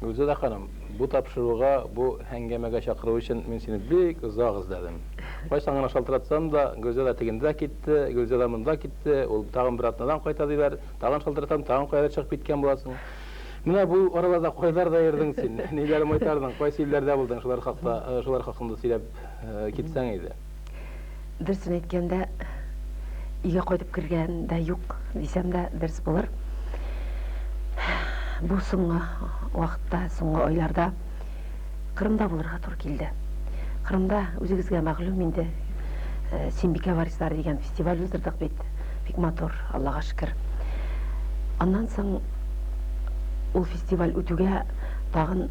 Гөлзада ханым, бу тапшыруга, бу әңгәмәгә чакыру өчен мин сине бик озак эзләдем. Кайчан гына шалтыратсам да, Гөлзада тегендә китте, Гөлзада монда китте, ул тагын бер атнадан кайта диләр, тагын шалтыратам, тагын каядыр чыгып киткән буласың. Менә бу араларда кайларда йөрдең син, ниләр майтардың, кайсы илләрдә булдың, шулар хакта, шулар хакында сөйләп китсәң иде. Дөресен әйткәндә, өйгә кайтып кергән дә юк, дисәм дә дөрес булыр. Бу соңгы вакытта, соңгы айларда Кырымда булырга туры килде. Кырымда үзегезгә мәгълүм инде, э, Синбикә варислары дигән фестиваль уздырдык бит. Бик матур, Аллага шөкер. Аннан соң ул фестиваль үтүгә тагын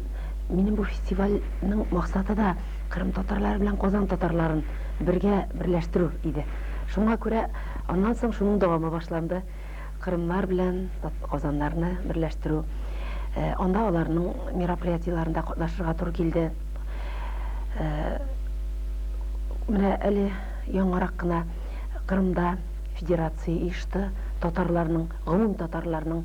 минем бу фестивальнең максаты да Кырым татарлары белән Казан татарларын бергә берләштерү иде. Шуңа күрә аннан соң шуның дәвамы башланды. Кырымнар белән Казаннарны берләштерү. Анда аларның мероприятиеләрендә катнашырга туры килде. Менә әле яңарак кына Кырымда федерация оешты, татарларның, гомум татарларның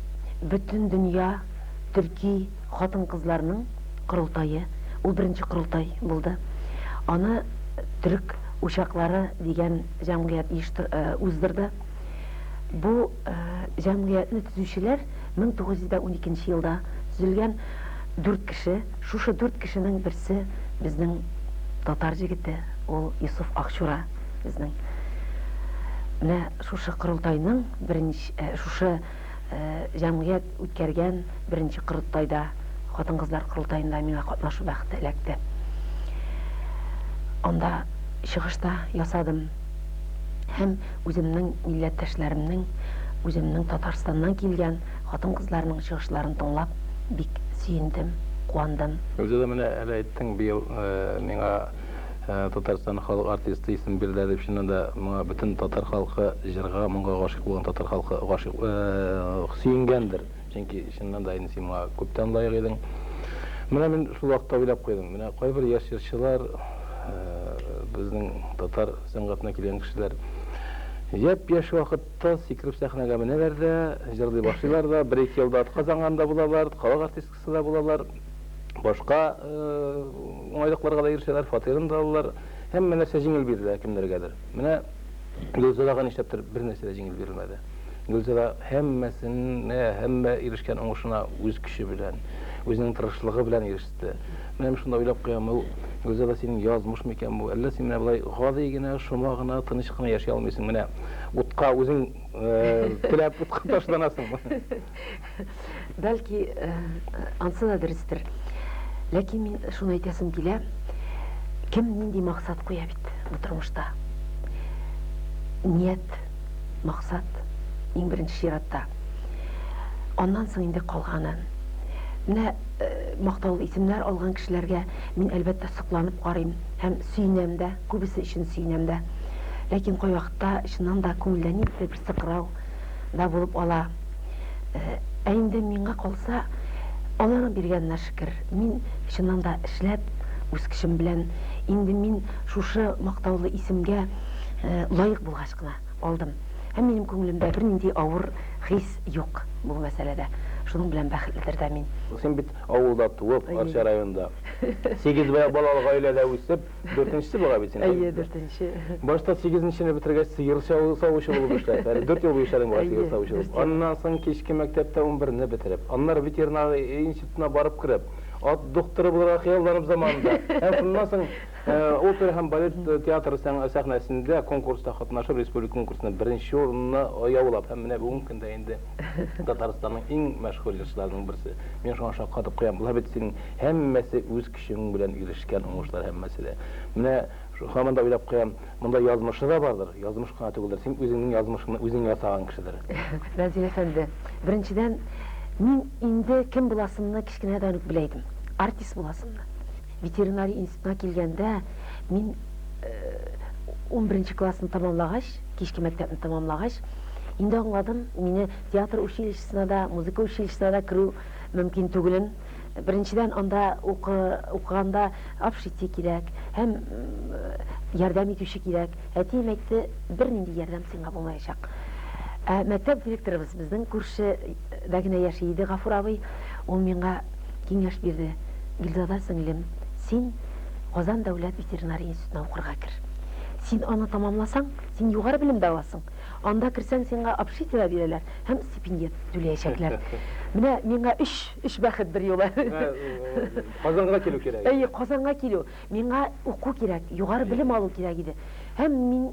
Бөтен дөнья төрки хатын-кызларының корылтае, ул беренче корылтай булды. Аны Төрек учаклары дигән җәмгыять уздырды. Бу җәмгыятьне төзүчеләр 1912 елда төзелгән дүрт кеше. Шушы дүрт кешенең берсе безнең татар җегете, ул Йосыф Акчура безнең. Менә шушы корылтайның беренче, шушы җәмгыять үткәргән беренче корылтайда, хатын-кызлар корылтаенда миңа катнашу бәхете эләкте. Анда чыгыш та ясадым һәм үземнең милләттәшләремнең, үземнең Татарстаннан килгән хатын-кызларның чыгышларын тыңлап, бик сөендем, куандым. Үзе дә менә әле әйттең, быел миңа Татарстан халык артисты исеме бирелә дип, чыннан да, моңа бөтен татар халкы, җырга, моңга гашыйк булган татар халкы гашыйк, сөенгәндер. Чөнки, чыннан да, инде син моңа күптән лаек идең. Менә мин шул вакытта уйлап куйдым, менә кайбер яшь җырчылар, безнең татар сәнгатенә килгән кешеләр япь-яшь вакытта сикереп сәхнәгә менәләр дә, җырлый башлыйлар да, бер-ике елда атказанган да булалар, халык артисты, да булалар, башка уңайлыкларга да ирешәләр, фатирын да алалар. Һәммә нәрсә җиңел бирелә кемнәргәдер. Менә Гөлзадага нишләптер бер нәрсә дә җиңел бирелмәде. Гөлзада һәммәсенә, һәммә ирешкән уңышына үз көче белән, үзенең тырышлыгы белән иреште. Менә шунда уйлап куям, ул Гөлзада синең язмыш микән бу? Әллә син менә болай гади генә, шома гына, тыныч кына яши алмыйсың? Менә утка үзең теләп утка ташланасың. Бәлки, э, ансы да дөрестер. Ләкин мин шуны әйтәсем килә, кем нинди максат куя бит бу тормышта. Ният, максат иң беренче чиратта. Аннан соң инде калганы. Менә э, мактаулы исемнәр алган кешеләргә мин әлбәттә сокланып карыйм һәм сөенәм дә, күбесе өчен сөенәм дә. Ләкин кайвакытта чыннан да күңелдә ниндидер сыкрау да булып ала. Ә инде миңа калса, Алланың биргәненә шөкер, мин чыннан да эшләп, үз көчем белән, инде мин шушы мактаулы исемгә лаек булгач кына алдым. Һәм минем күңелемдә бернинди авыр хис юк бу мәсьәләдә. Шуның белән бәхетледер дә мин. Син бит авылда туып, Арча районында, сигез балалы гаиләдә үсеп, Дүртенчесе була бит синең. Әйе, дүртенче. Башта сигезенчене бетергәч, сыер савучы булып эшләп, әле дүрт ел буе эшләдең бугай сыер савучы булып. Аннан соң кичке мәктәптә унберне бетереп, аннары ветеринар институтына барып кереп, ат докторы булырга хыялланып заманында, һәм шуннан соң опера һәм балет театры сәхнәсендә конкурста катнашып, республика конкурсында беренче урынны яулап һәм менә бүгенге көндә инде Татарстанның иң мәшһүр җырчыларының берсе. Мин шуңа шаккатып куям. Була бит синең һәммәсе үз Шуның белән ирешкән уңышлар һәммәсе дә. Менә һаман да уйлап куям, монда язмышы да бардыр, язмыш кына түгелдер, син үзеңнең язмышыңны үзең ясаган кешедер. Разил әфәнде, беренчедән, мин инде кем буласымны кечкенәдән үк белә идем, артист буласымны. Ветеринария институтына килгәндә, мин унберенче классны тәмамлагач, кичке мәктәпне тәмамлагач, инде аңладым, мине театр училищесына да, музыка училищесына да керү мөмкин түгелен. Беренчедән, анда укыганда общество кирәк һәм ярдәм итүче кирәк. Әтием әйтте, бернинди ярдәм сиңа булмаячак. Ә мәктәп директорыбыз безнең күршедә генә яши иде Гафур абый. Ул миңа киңәш бирде. Гөлзада сеңлем, син Казан дәүләт ветеринария институтына укырга кер. Син аны тәмамласаң, син югары белем дә аласың. Анда керсәң, сиңа общителя бирәләр һәм стипендия түләячәкләр. Менә миңа өч, өч бәхет бер юлы. Казанга килү кирәк. Әйе, Казанга килү. Миңа уку кирәк, югары белем алу кирәк иде. Һәм мин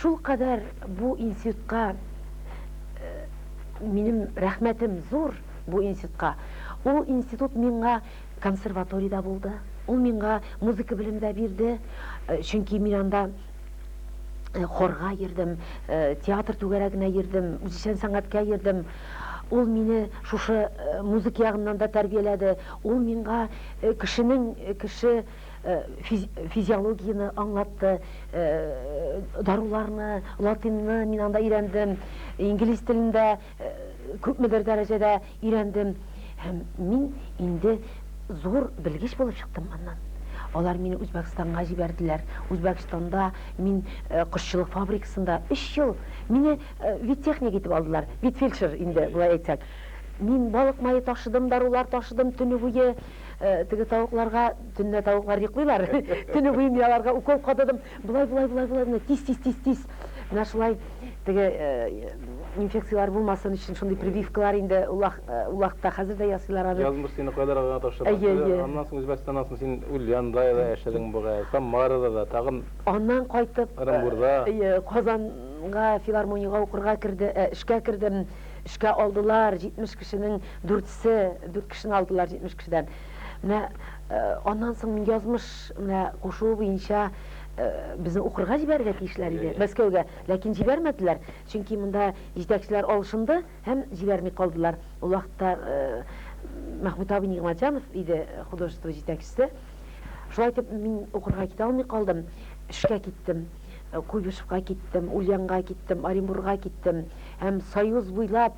шулкадәр бу институтка, минем рәхмәтем зур бу институтка. Ул институт миңа консерваторий да булды, ул миңа музыка белем дә бирде, чөнки мин анда Э, хорга йөрдем, э, театр түгәрәгенә йөрдем, үзешчән сәнгатькә йөрдем. Ул мине шушы э, музыка ягыннан да тәрбияләде. Ул миңа кешенең кеше физиологияне аңлатты, даруларны, латинны мин анда өйрәндем, инглиз телендә Күпмедер дәрәҗәдә өйрәндем һәм мин инде зур белгеч булып чыктым моннан. Алар мине Үзбәкстанга җибәрделәр. Үзбәкстанда мин кошчылык фабрикасында өч ел мине веттехник итеп алдылар. Ветфельдшер инде, болай әйтсәк. Мин балык мае ташыдым, дарулар ташыдым, төне буе теге тавыкларга, төнлә тавыклар йоклыйлар, төне буе мин аларга укол кададым. Болай, болай, болай, болай, менә тиз, тиз, тиз, тиз. Менә шулай теге инфекцияләр булмасын өчен шундый прививкалар инде улак, улакта хәзер дә ясыйлар аны. Язмыш сине кайларга гына тапшырды. Әйе, әйе. Аннан соң Үзбәкстаннан соң син Ульянда да яшәдең бугай, Самарада да, тагын. Аннан кайтып. Ырынбурда. Әйе, Казанга филармониягә укырга керде, эшкә кердем. Эшкә алдылар, 70 кешенең дүртсе, дүрт кешене алдылар 70 кешедән. Менә аннан соң мин язмыш менә кушуы буенча безне укырга җибәрергә тиешләр иде Мәскәүгә, ләкин җибәрмәделәр, чөнки монда җитәкчеләр алышынды һәм җибәрми калдылар. Ул вакытта Мәхмүт абый Нигъмәтҗанов иде художество җитәкчесе. Шулай итеп мин укырга китә алмый калдым, эшкә киттем. Куйбышевка киттем, Ульянга киттем, Оренбурга киттем һәм Союз буйлап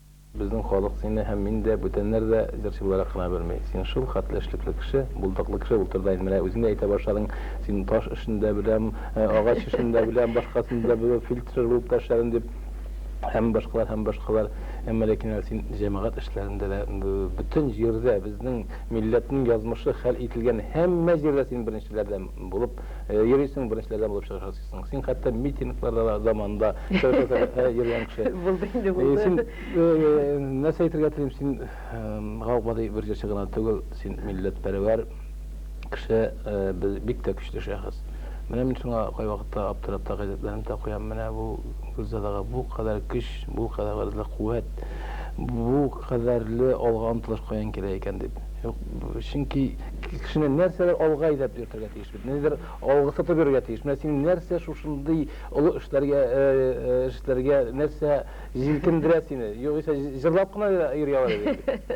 Безнең халык сине һәм мин дә, бүтәннәр дә җырчы буларак кына белми. Син шул хәтле эшлекле кеше, булдыклы кеше булып тор да инде. Менә үзең дә әйтә башладың, син таш эшен дә беләм, агач эшен дә беләм, башкасын да беләм, фельдшер булып та эшләдем дип. Һәм башкалар, һәм башкалар. Әмма ләкин менә син җәмәгать эшләрендә дә, бөтен җирдә, безнең милләтнең язмышы хәл ителгән һәммә җирдә син беренчеләрдән булып йөрисең, беренчеләрдән булып чыгышасың. Син хәтта митингларда да заманында Совет Советында йөргән кеше. Булды инде, э, булды. Син э, нәрсә әйтергә телим, син гаугадый бер җырчы гына түгел, син милләтпәрвәр кеше, э, бик тә көчле шәхес. Менә мин шуңа кайвакытта аптырап та газетләрен дә куям. Менә бу Гөлзадага бу кадәр көч, бу кадәрле куәт, бу кадәрле алга омтылыш каян килә икән дип. Чөнки кешене нәрсәдер алга әйдәп йөртергә тиеш бит. Нидер Алгысытып йөрергә тиеш. Менә сине нәрсә шушындый олы эшләргә эш эшләргә, нәрсә җилкендерә сине? Югыйсә җырлап кына йөри алыр идең бит.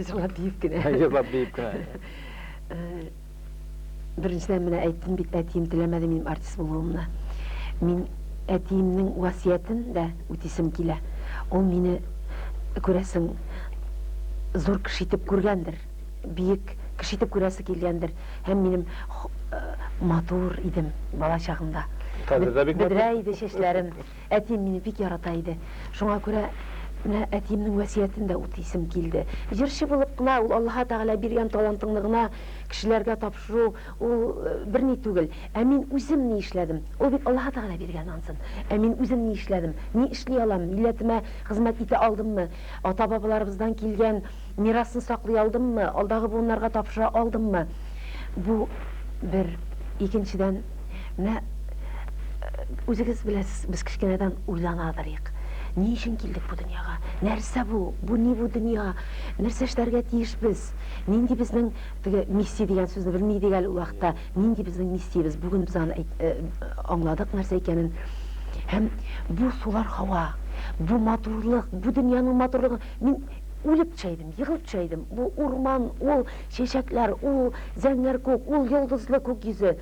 Җырлап биеп кенә. Җырлап биеп кенә. Беренчедән менә әйттем бит, әтием теләмәде минем артист булуымны. Мин әтиемнең васыятен дә үтисем килә. Ул мине күрәсең зур кеше итеп күргәндер. биек кеше итеп күрәсе килгәндер һәм минем матур идем бала чагымда. Хәзер дә бик матур. Бөдрә иде чәчләрем. Әтием мине бик ярата иде. Шуңа күрә менә әтиемнең вәсиятен дә үтисем килде. Җырчы булып кына ул Аллаһы Тәгалә биргән талантыңны гына кешеләргә тапшыру ул берни түгел. Ә мин үзем ни эшләдем? Ул бит Аллаһы Тәгалә биргән ансын. Ә мин үзем ни эшләдем? Ни эшли алам? Милләтемә хезмәт итә алдыммы? Ата-бабаларыбыздан килгән Мирасны саклый алдыммы, алдагы буыннарга тапшыра алдыммы? Бу бер. Икенчедән, менә үзегез беләсез, без кечкенәдән уйлана торыйк. Ни өчен килдек бу дөньяга? Нәрсә бу? Бу ни бу дөнья? Нәрсә эшләргә тиеш без? Нинди безнең теге миссия дигән сүзне белми идек әле ул вакытта. Нинди безнең миссиябез? Бүген без аны э, аңладык нәрсә икәнен. Һәм бу сулар һава, бу матурлык, бу дөньяның матурлыгы. Мин Үлеп төшә идем, егылып төшә идем. Бу урман, ул чәчәкләр, ул зәңгәр күк, ул йолдызлы күк йөзе.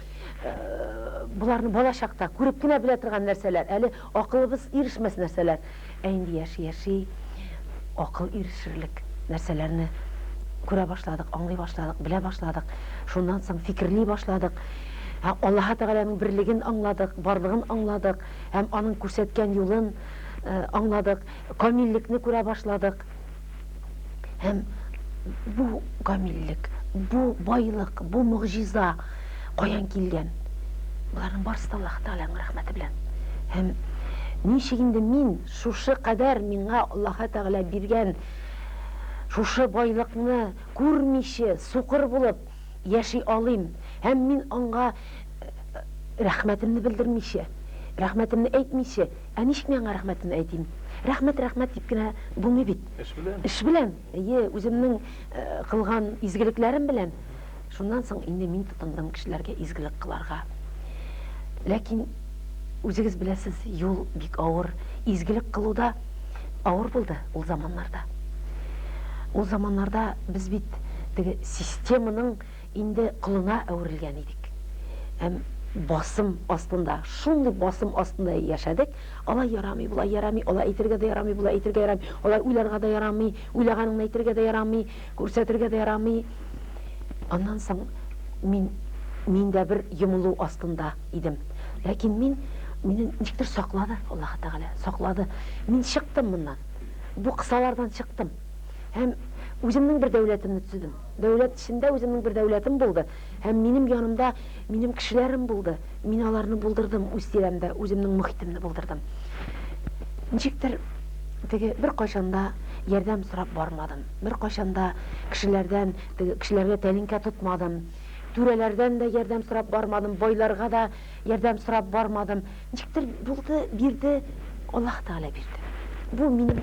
Боларны бала чакта күреп кенә белә торган нәрсәләр, әле акылыбыз ирешмәс нәрсәләр. Ә инде яши-яши акыл ирешерлек нәрсәләрне күрә башладык, аңлый башладык, белә башладык. Шуннан соң фикерли башладык. Һәм Аллаһы Тәгаләнең берлеген аңладык, барлыгын аңладык һәм аның күрсәткән юлын аңладык. Камиллекне күрә башладык. Һәм бу камиллек, бу байлык, бу могҗиза каян килгән? Боларның барысы да Аллаһы Тәгаләнең рәхмәте белән. Һәм ничек инде мин шушы кадәр миңа Аллаһы Тәгалә биргән шушы байлыкны күрмичә, сукыр булып яши алыйм? Һәм мин аңа рәхмәтемне белдермичә, рәхмәтемне әйтмичә, Ә ничек мин аңа рәхмәтен әйтим? Рәхмәт, рәхмәт дип кенә булмый бит. Эш белән. Эш белән, әйе, үземнең кылган изгелекләрем белән. Шуннан соң инде мин тотындым кешеләргә изгелек кыларга. Ләкин, үзегез беләсез, юл бик авыр. Изгелек кылу да авыр булды ул заманнарда. Ул заманнарда без бит теге системаның Инде колына әверелгән идек һәм басым астында, шундый басым астында яшәдек, алай ярамый, болай ярамый, алай әйтергә дә ярамый, болай әйтергә ярамый, алай уйларга да ярамый, уйлаганыңны әйтергә дә ярамый, күрсәтергә дә ярамый. Аннан соң мин, мин дә бер йомылу астында идем. Ләкин мин, мине ничектер саклады Аллаһы Тәгалә, саклады. Мин чыктым моннан, бу кысалардан чыктым һәм үземнең бер дәүләтемне төзедем. Дәүләт эчендә үземнең бер дәүләтем булды һәм минем янымда минем кешеләрем булды. Мин аларны булдырдым, үз тирәмдә үземнең мохитемне булдырдым. Ничектер теге беркайчан да ярдәм сорап бармадым. Беркайчан да кешеләрдән, теге кешеләргә тәлинкә тотмадым. Түрәләрдән дә ярдәм сорап бармадым, байларга да ярдәм сорап бармадым. Ничектер булды, бирде, Аллаһ Тәгалә бирде. Бу минем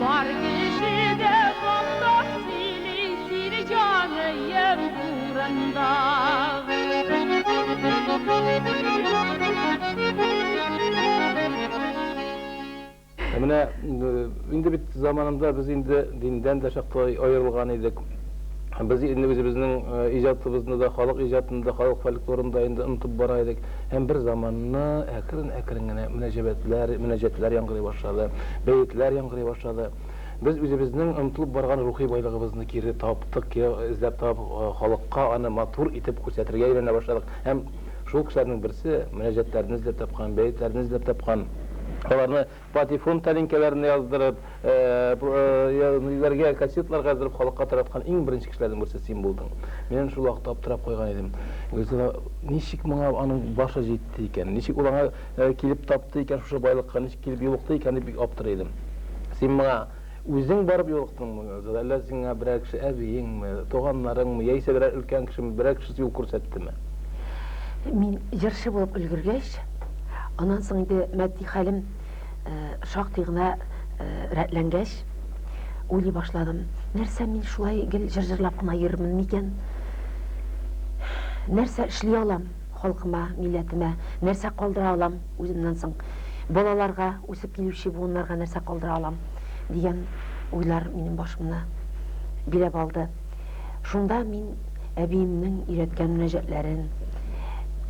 Бар кеше дә монда сөйли сине җаныем турында. Ә менә инде бит заманында без инде диндән дә чаклы аерылган идек. Без инде үзебезнең иҗатыбызны да, халык иҗатын да, халык фольклорын да инде онытып бара идек. Һәм бер заманны әкрен-әкрен генә мөнәҗәбәтләр, мөнәҗәтләр яңгырый башлады, бәетләр яңгырый башлады. Без үзебезнең онытылып барган рухи байлыгыбызны кире таптык, кире эзләп табып, халыкка аны матур итеп күрсәтергә өйрәнә башладык. Һәм шул кешеләрнең берсе, мөнәҗәтләрне эзләп тапкан, бәетләрне эзләп тапкан, аларны Патефон тәлинкәләренә яздырып, юләргә кассетларга яздырып халыкка тараткан иң беренче кешеләрнең берсе син булдың. Мин әнә шул вакытта аптырап куйган идем. Гөлзада, ничек моңа аның башы җитте икән? Ничек ул аңа килеп тапты икән, шушы байлыкка ничек килеп юлыкты икән дип бик аптырый идем. Син моңа. Үзең барып юлыктыңмы, Гөлзада, әллә сиңа берәр кеше, әбиеңме, туганнарыңмы, яисә берәр өлкән кешеме, берәр кеше юл күрсәттеме? Мин җырчы булып өлгергәч, аннан соң инде матди хәлем шактый гына рәтләнгәч, уйлый башладым, нәрсә мин шулай гел җыр җырлап кына йөрермен микән? Нәрсә эшли алам? Халкыма, милләтемә нәрсә калдыра алам үземнән соң? Балаларга, үсеп килүче буыннарга нәрсә калдыра алам? дигән уйлар минем башымны биләп алды. Шунда мин әбиемнең өйрәткән мөнәҗәтләрен,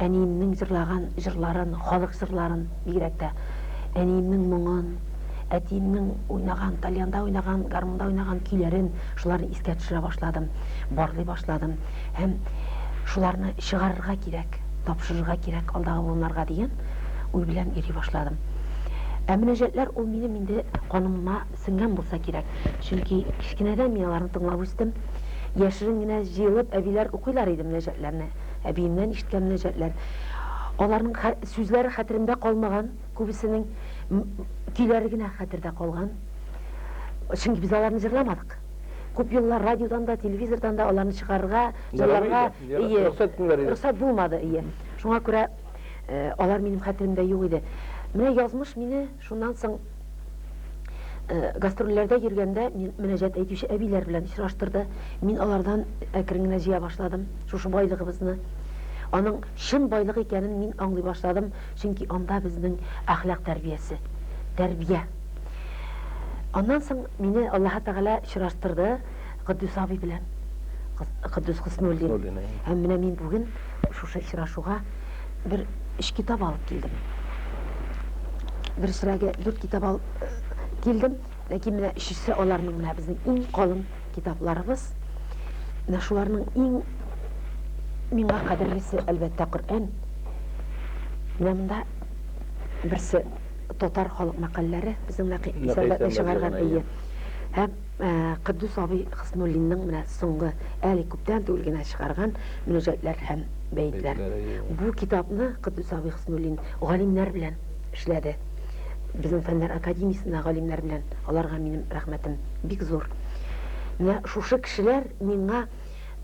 әниемнең җырлаган җырларын, халык җырларын, бигрәк тә әниемнең моңын, әтиемнең уйнаган, тальянда уйнаган, гармунда уйнаган көйләрен, шуларны искә төшерә башладым, барлый башладым. һәм шуларны чыгарырга кирәк, тапшырырга кирәк алдагы буыннарга дигән уй белән йөри башладым. Ә мөнәҗәтләр ул минем инде канымма сеңгән булса кирәк, чөнки кечкенәдән мин аларны тыңлап үстем. Яшерен генә җыелып, әбиләр укыйлар иде мөнәҗәтләрне. Әбиемнән ишеткән мөнәҗәтләр. Аларның сүзләре хәтеремдә калмаган, күбесенең көйләре генә хәтердә калган. Чөнки без аларны җырламадык. Күп еллар радиодан да, телевизордан да аларны чыгарырга, ялларга, ие, рөхсәт булмады, ие. Шуңа күрә алар минем хәтеремдә юк иде. Менә язмыш мине шуннан соң гастрольләрдә йөргәндә мөнәҗәт әйтүче әбиләр белән очраштырды. Мин алардан әкрен генә җыя башладым шушы байлыгыбызны. Аның чын байлык икәнен мин аңлый башладым, чөнки анда безнең әхлак тәрбиясе, тәрбия Аннан соң мине Аллаһы Тәгалә очраштырды Котдус абый белән. Котдус Хөснуллин. Һәм менә мин бүген шушы очрашуга бер өч китап алып килдем. Бер срәгә дүрт китап алып э, килдем, ләкин менә өчесе аларның менә безнең иң калын китапларыбыз. Менә шуларның иң миңа кадерлесе, әлбәттә, Коръән. Менә монда берсе Татар халык мәкальләре безнең Нәкый Исәнбәтнең чыгарган, әйе. Һәм Котдус абый Хөснуллинның менә соңгы, әле күптән түгел генә чыгарган Мөнәҗәтләр һәм бәетләр. Бу китапны Котдус абый Хөснуллин галимнәр белән эшләде. Безнең Фәннәр академиясендә галимнәр белән, аларга минем рәхмәтем бик зур. Менә шушы кешеләр миңа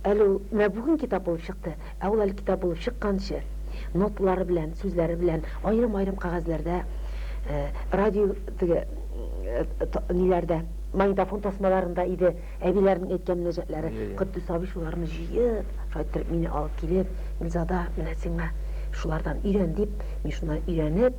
әле ул менә бүген китап булып чыкты, Ә ул әле китап булып чыкканчы, ноталары белән, сүзләре белән аерым-аерым кәгазьләрдә, радио теге ниләрдә, магнитофон тасмаларында иде әбиләренең әйткән мөнәҗәтләре. Котдус абый шуларны җыеп, шулай иттереп мине алып килеп, Гөлзада, менә сиңа шулардан өйрән, дип, мин шуннан өйрәнеп,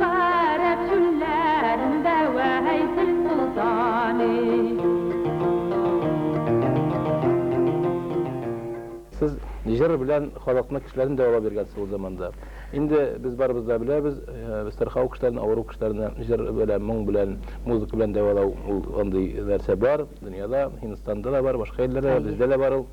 Гарәп чүлләрендә Вәйсел солтаны. Сез җыр белән халыкны, кешеләрне дәвалап йөргәнсез ул заманда. Инде без барыбыз да беләбез, сырхау кешеләрне, авыру кешеләрне җыр белән, моң белән, музыка белән дәвалау, ул андый нәрсә бар дөньяда, Һиндстанда да бар, башка илләрдә дә, бездә дә бар ул.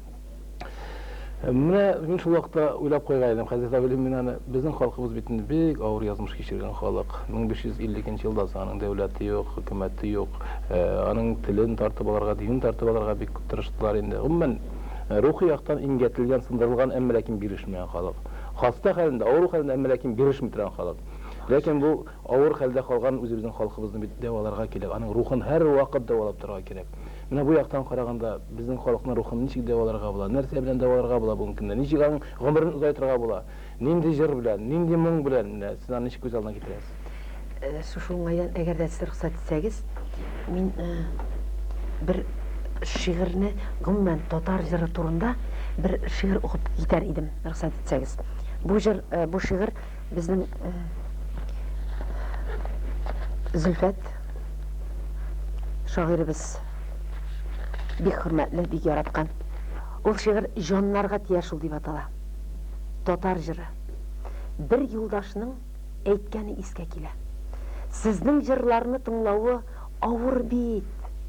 Менә мин шул вакытта уйлап куйган идем, хәзрәт Абелин, мин аны, безнең халкыбыз бит инде бик авыр язмыш кичергән халык. 1550 нче елдан соң аның дәүләте юк, хөкүмәте юк, аның телен тартып алырга, динен тартып алырга бик күп тырыштылар инде. Гомумән, рухи яктан имгәтелгән, сындырылган, әмма ләкин бирешмәгән халык. Хаста хәлендә, авыру хәлендә, әмма ләкин бирешми торган халык. Ләкин бу Авыр хәлдә калган үзебезнең халкыбызны бит дәваларга кирәк, аның рухын һәрвакыт дәвалап торырга кирәк. Менә бу яктан караганда, безнең халыкның рухын ничек дәваларга була, нәрсә белән дәваларга була бүгенге көндә, ничек аның гомерен озайтырга була, нинди җыр белән, нинди моң белән, менә сез аны ничек күз алдына китерәсез? Шушы уңайдан, әгәр дә сез рөхсәт итсәгез, мин бер шигырьне, гомумән, татар җыры турында бер шигырь укып китәр идем, рөхсәт итсәгез. Бу җыр, бу шигырь. безнең э, Зөлфәт шагыйребез бик хөрмәтле, бик яраткан. Ул шигырь җаннарга тия шул дип атала. Татар җыры. Бер юлдашның әйткәне искә килә. Сезнең җырларны тыңлавы авыр бит,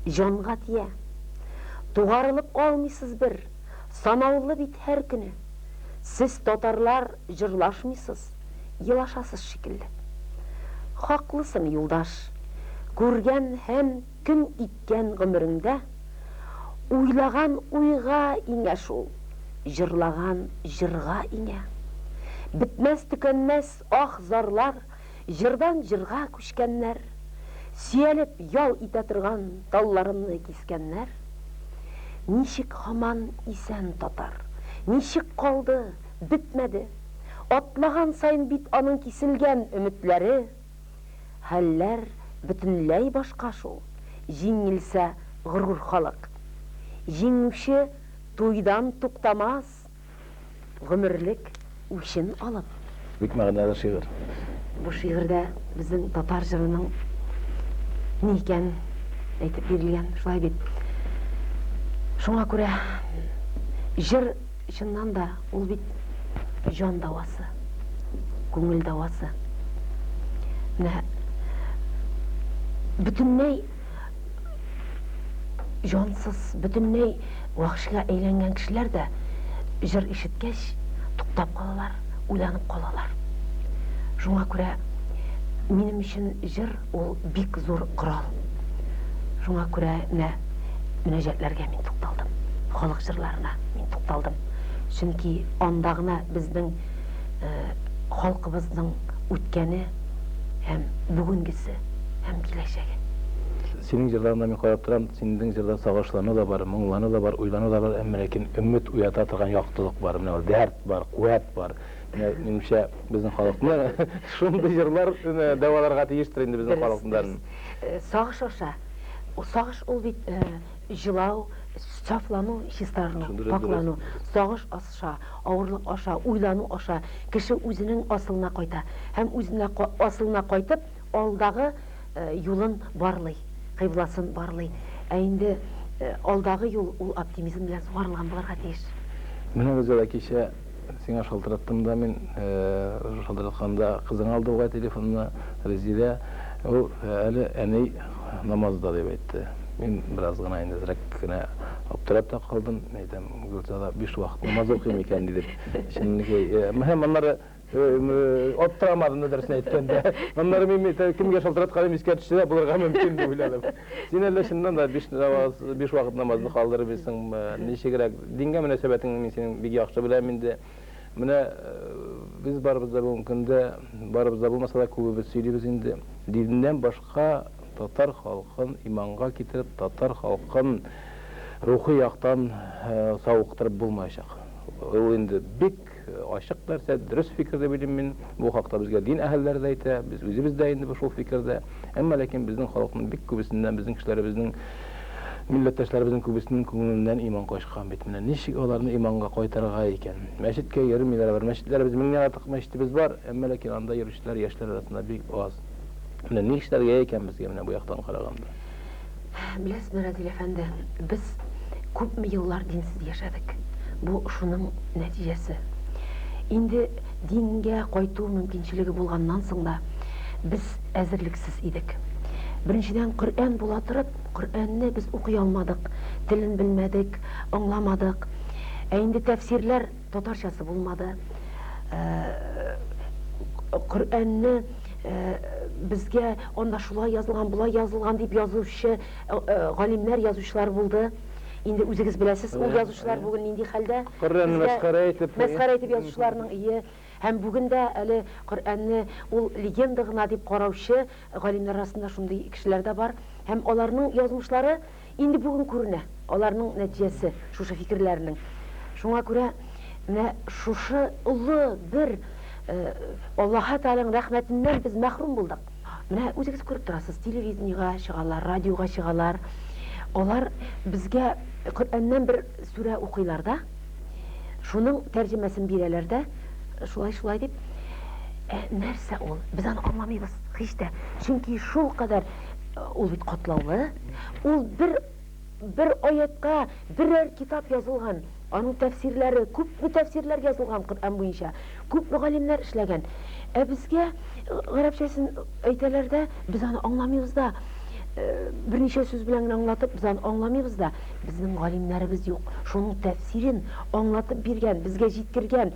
җанга тия. Тугарылып алмыйсыз бер, санаулы бит һәр көне. Сез татарлар Җырлашмыйсыз, елашасыз шикелле. Хаклысын юлдаш, күргән һәм көн иткән гомереңдә уйлаган уйга иңә шул, җырлаган җырга иңә. Бетмәс төкәнмәс аһ зарлар җырдан җырга күчкәннәр, сөялеп ял итә торган талларымны кискәннәр. Ничек һаман исән татар, ничек калды? Бетмәде. Атлаган саен бит аның киселгән өметләре. Хәлләр бөтенләй башка шул, җиңелсә горур халык. Җиңүче туйдан туктамас, гомерлек үчен алып. Бик мәгънәле шигырь. Бу шигырьдә безнең татар җырының ни икәнен әйтеп бирелгән, шулай бит. Шуңа күрә җыр Чыннан да, ул бит җан дәвасы, күңел дәвасы. Менә бөтенләй җансыз, бөтенләй вәхшигә әйләнгән кешеләр дә җыр ишеткәч, туктап калалар, уйланып калалар. Шуңа күрә минем өчен җыр Ул бик зур корал. Шуңа күрә менә мөнәҗәтләргә мин тукталдым. Халык җырларына мин тукталдым. Чөнки анда гына безнең халкыбызның үткәне һәм бүгенгесе һәм киләчәге. Синең җырларыңда мин карап торам, синең җырда сагышлану да бар, моңлану да бар, уйлану да бар, әмма ләкин өмет уята торган яктылык бар, менә ул дәрт бар, куәт бар. Минемчә, безнең халыкны шундый җырлар дәваларга тиештер инде безнең халыкдан. Сагыш аша. Сагыш ул бит җылау, сафлану, чистарыну, паклану. Сагыш аша, авырлык аша, уйлану аша кеше үзенең асылына кайта. Һәм үзенә асылына кайтып, алдагы юлын барлый, кыйбласын барлый. Ә инде алдагы юл ул оптимизм белән сугарылган булырга тиеш. Менә бездә дә кичә Сиңа шалтыраттым да мин, шалтыратканда кызың алды бугай телефонны, Резилә. Ул әле әни намазда дип әйтте. Мин бераз гына инде әзрәк кенә аптырап та калдым. Мин әйтәм, Гөлзада биш вакыт намаз укый микән ди дип. Чынныкый. Һәм аннары аптырамадым да, дөресен әйткәндә. Аннары мин кемгә шалтыратканым искә төшсә дә булырга мөмкин дип уйладым. Син әллә чыннан да биш намаз, биш вакыт намазны калдырып бисеңме? Ничегрәк? Дингә мөнәсәбәтеңне мин синең бик яхшы беләм инде. Менә э, без барыбыз да бүгенге көндә, барыбыз да булмаса да күбебез сөйлибез инде. Диннән башка татар халкын иманга китереп, татар халкын рухи яктан э, савыктырып булмаячак. Ул инде бик Бик ачык нәрсә, дөрес фикер дип уйлыйм мин. Бу хакта безгә дин әһелләре дә әйтә, без үзебез дә инде шул фикердә. Әмма ләкин безнең халыкның бик күбесеннән, безнең кешеләребезнең, милләттәшләребезнең күбесенең күңеленнән иман качкан бит. Менә ничек аларны иманга кайтарырга икән? Мәчеткә йөрмиләр алар. Мәчетләребез, меңнән артык мәчетебез бар, әмма ләкин анда йөрүчеләр яшьләр арасында бик аз. Менә нишләргә икән безгә менә бу яктан караганда? Беләсме, Разил әфәнде, без күпме еллар динсез яшәдек. Бу шуның нәтиҗәсе. Инде дингә кайту мөмкинчелеге булганнан соң да без әзерлексез идек. Беренчедән, Коръән була торып, Коръәнне без укый алмадык, телен белмәдек, аңламадык. Ә инде тәфсирләр Татарчасы булмады. Коръәнне безгә анда шулай язылган, болай язылган дип язучы галимнәр, язучылар булды. Инде үзегез беләсез, ул язучылар бүген нинди хәлдә. Коръәнне мәсхәрә итеп. Мәсхәрә итеп язучыларның, ие. Һәм бүген дә әле Коръәнне ул легенда гына дип караучы Галимнәр арасында шундый кешеләр дә бар. Һәм аларның язмышлары инде бүген күренә, аларның нәтиҗәсе шушы фикерләренең. Шуңа күрә менә шушы олы бер Аллаһы Тәгаләнең рәхмәтеннән без мәхрүм булдык. Менә үзегез күреп торасыз, телевидениегә чыгалар, радиога чыгалар, алар безгә Коръәннән бер сүрә укыйлар да, Шуның тәрҗемәсен бирәләр дә, шулай, шулай дип, ә нәрсә ул? Без аны аңламыйбыз һич тә. Чөнки шул кадәр ул бит катлаулы. Ул бер бер аятка берәр китап язылган, аның тәфсирләре, күпме тәфсирләр язылган Коръән буенча. Күп мөгаллимнәр эшләгән. Ә безгә гарәпчәсен әйтәләр дә, без аны аңламыйбыз да. Берничә сүз белән генә аңлатып, без аны аңламыйбыз да. Безнең галимнәребез юк. Шуның тәфсирен аңлатып биргән, безгә җиткергән.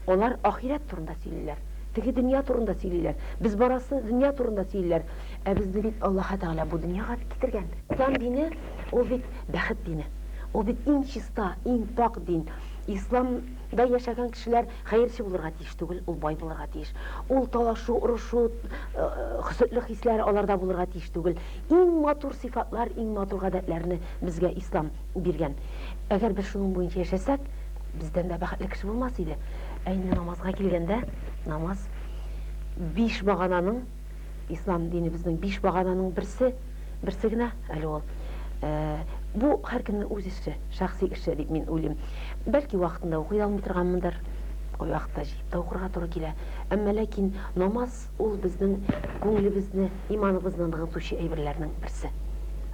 Алар ахирәт турында сөйлиләр. Теге дөнья турында сөйлиләр. Без барасы дөнья турында сөйлиләр. Ә безне бит Аллаһы Тәгалә бу дөньяга бит китергән. Ислам дине, ул бит бәхет дине. Ул бит иң чиста, иң пакь дин. Ислам. Да яшәгән кешеләр хәерче булырга тиеш түгел, ул бай булырга тиеш. Ул талашу, орышу, хөсетлек хисләре аларда булырга тиеш түгел. Иң матур сыйфатлар, иң матур гадәтләрне безгә Ислам биргән. Әгәр без шуның буенча яшәсәк, бездән дә бәхетле кеше булмас иде. Ә инде намазга килгәндә, намаз биш багананың, Ислам динебезнең биш багананың берсе, берсе генә әле ул. Бу һәркемнең үз эше, шәхси эше дип мин уйлыйм. Бәлки вакытында укый алмый торганмындыр, ул вакытта җыеп та укырга туры килә. Әмма ләкин намаз ул безнең күңелебезне, иманыбызны ныгытучы әйберләрнең берсе.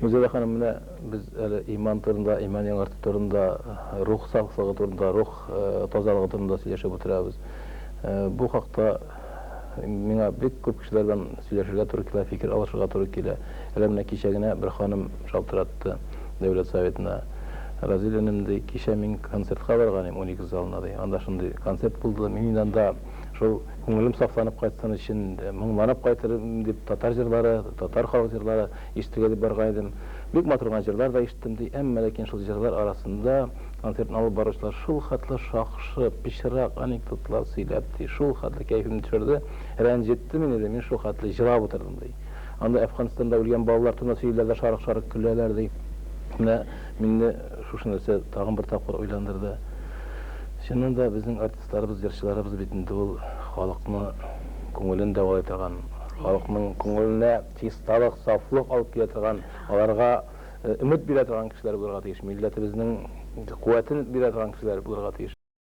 Гөлзада ханым, менә без әле иман турында, иман яңарту турында, рух сафлыгы турында, рух тазалыгы турында сөйләшеп утырабыз. Бу хакта Миңа бик күп кешеләрдән сөйләшергә туры килә, фикер алышырга туры килә. Әле менә кичә генә бер ханым шалтыратты Дәүләт Советына. Разил энем, ди, кичә мин концертка барган идем Уникс залына, ди. Анда шундый концерт булды, мин инде анда шул күңелем сафланып кайтсын өчен, моңланып кайтырмын дип, татар җырлары, татар халык җырлары ишетергә дип барган идем. Бик матур гына җырлар да ишеттем, ди. Әмма ләкин шул җырлар арасында, Концертны алып баручылар шулхәтле шакшы, пычрак анекдотлар сөйләп, ди, шулхәтле кәефемне төшерде, рәнҗетте мине, ди, мин шулхәтле җылап утырдым, ди. Анда Әфганстанда үлгән балалар турында сөйлиләр дә шарык-шарык көләләр, ди. Менә мине шушы нәрсә тагын бер тапкыр уйландырды. Чыннан да, безнең артистларыбыз, җырчыларыбыз бит инде ул халыкны күңелен дәвалый торган, халыкның күңеленә чисталык, сафлык алып килә торган, аларга. Өмет бирә торган кешеләр булырга тиеш, милләтебезнең куәтен бирә торган кешеләр булырга тиеш.